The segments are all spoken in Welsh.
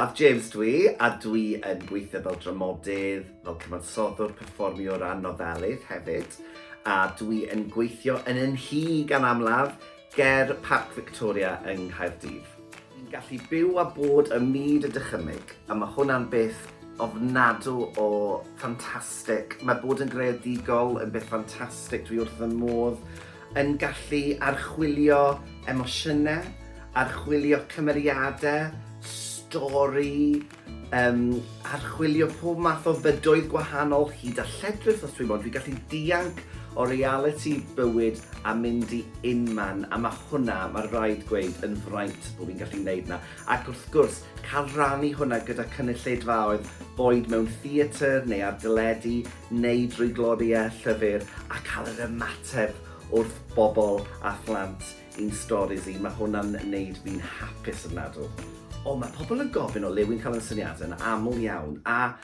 Af James dwi, a dwi yn gweithio fel dramodydd, fel cyfansoddwr, perfformio o ran nofelydd hefyd, a dwi yn gweithio yn y nhŷ gan amlaf, ger Parc Victoria yng Nghaerdydd. Dwi'n gallu byw a bod ym myd y dychymyg, a mae hwnna'n beth ofnadw o ffantastig. Mae bod yn greadigol yn beth ffantastig, dwi wrth fy modd yn gallu archwilio emosiynau, archwilio cymeriadau, stori, yym, archwilio pob math o fydoedd gwahanol, hyd a lledrith os dwi mo'n, dwi'n gallu dianc o realiti bywyd a mynd i unman, a ma' hwnna, ma' raid gweud, yn fraint bo' fi'n gallu neud 'na, ac wrth gwrs, cael rhannu hwnna gyda cynulleidfaoedd, boed mewn theatr neu ar deledu, neu drwy gloriau llyfr a cael yr ymateb wrth bobl a phlant i'n storis i, mae hwnna'n neud fi'n hapus ofnadw. O, mae pobl yn gofyn o le wy'n cael yn syniadau yn aml iawn, a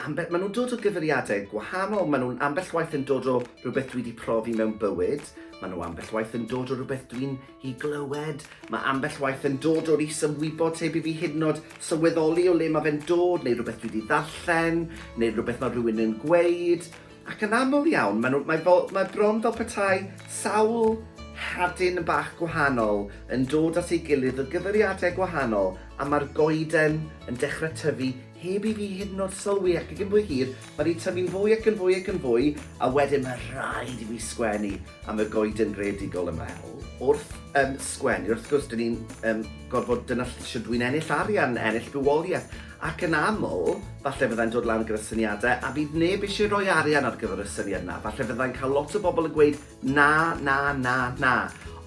ambell, maen nhw'n dod o gyfeiriadau gwahanol, maen nhw'n ambell waith yn dod o rhywbeth dwi wedi profi mewn bywyd, maen nhw ambell waith yn dod o rhywbeth dwi'n I glywed. Mae ambell waith yn dod o'r is-ymwybod heb i fi hyd yn oed sylweddoli o le mae fe'n dod, neu rhywbeth dwi wedi ddarllen, neu rhywbeth mae rhywun yn gweud. Ac yn aml iawn, mae, nhw, mae, fel, mae bron fel petai sawl hadyn bach gwahanol yn dod at ei gilydd o gyfeiriadau gwahanol, a mae'r goeden yn dechrau tyfu heb i fi hyd yn oed sylwi, ac cyn bo hir, mae rhi tyfu'n fwy ac yn fwy ac yn fwy, a wedyn mae rhaid i fi sgwennu. am y goeden greadigol yn Mel. Wrth um, sgwennu, wrth gwrs, dyn ni'n um, gorfod dyna lle dwi'n ennill arian, ennill bywoliaeth. Ac yn aml, falle fyddai'n dod lan gyda syniadau a bydd neb eisiau rhoi arian ar gyfer y syniad yna. Falle fyddai'n cael lot o bobl yn gweud na, na, na, na.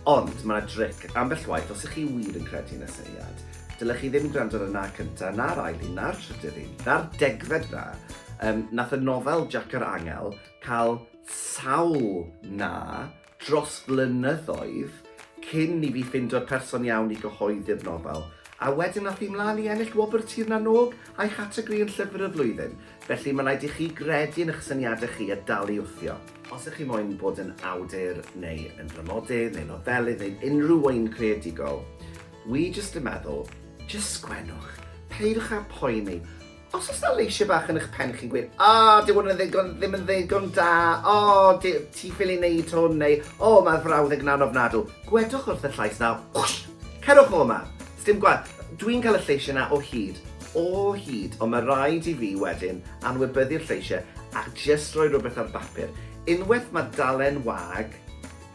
Ond mae yna dric ambell waith os ych chi wir yn credu yn y syniad. Dylech chi ddim gwrando ar y na cyntaf, na'r ail un, na'r trydydd un, na'r degfed na. Um, nath y nofel Jac yr Angel cael sawl na dros flynyddoedd cyn i fi ffindio'r person iawn i gyhoeddi'r nofel, a wedyn ath hi mlaen i ennill wobr Tir na n-Og a'i chategori yn Llyfr y Flwyddyn, felly mae'n rhaid i chi gredu yn eich syniadau chi a dal i wthio. Os ych chi moyn bod yn awdur neu yn dramodydd neu nofelydd neu unrhyw un creadigol, wi jyst yn meddwl, jyst sgwennwch, peidiwch â phoeni, Os oes na leisiau bach yn eich pen chi'n gweud, o, oh, dyw hwn yn ddigon, ddim yn ddigon da, o, oh, ti ffili wneud hwn, neu, o, oh, mae'r frawddeg na'n ofnadw. Gwedwch wrth y llais na, whoosh, cerwch o yma. Sdim gwaith, dwi'n cael y lleisiau na o hyd, o hyd, ond mae rhaid i fi wedyn anwybyddu'r lleisiau a just rhoi rhywbeth ar bapur. Unwaith mae dalen wag,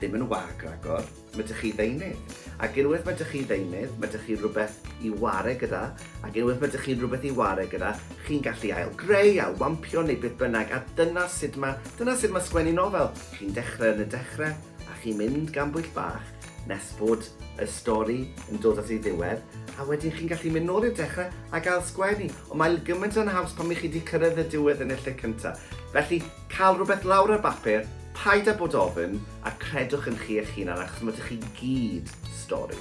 ddim yn wag ragor, Mae 'da chi ddeunydd. Ac unwaith mae 'da chi ddeunydd, mae 'da chi rhywbeth i ware gyda, ac unwaith mae 'da chi rhywbeth i ware gyda, chi'n gallu ail-greu, ail-wampio neu beth bynnag, a dyna sut mae, dyna sut mae sgwennu nofel. Chi'n dechrau yn y dechrau, a chi'n mynd gan bwyll bach nes bod y stori yn dod at ei ddiwedd, a wedyn chi'n gallu mynd nôl i'r dechrau ac ail-sgwennu. Ond mae gymaint yn haws pan 'y chi 'di cyrraedd y diwedd yn y lle cyntaf. Felly, cael rhywbeth lawr ar bapur, paid â bod ofn, A credwch yn chi eich hunan achos mod chi gyd stori.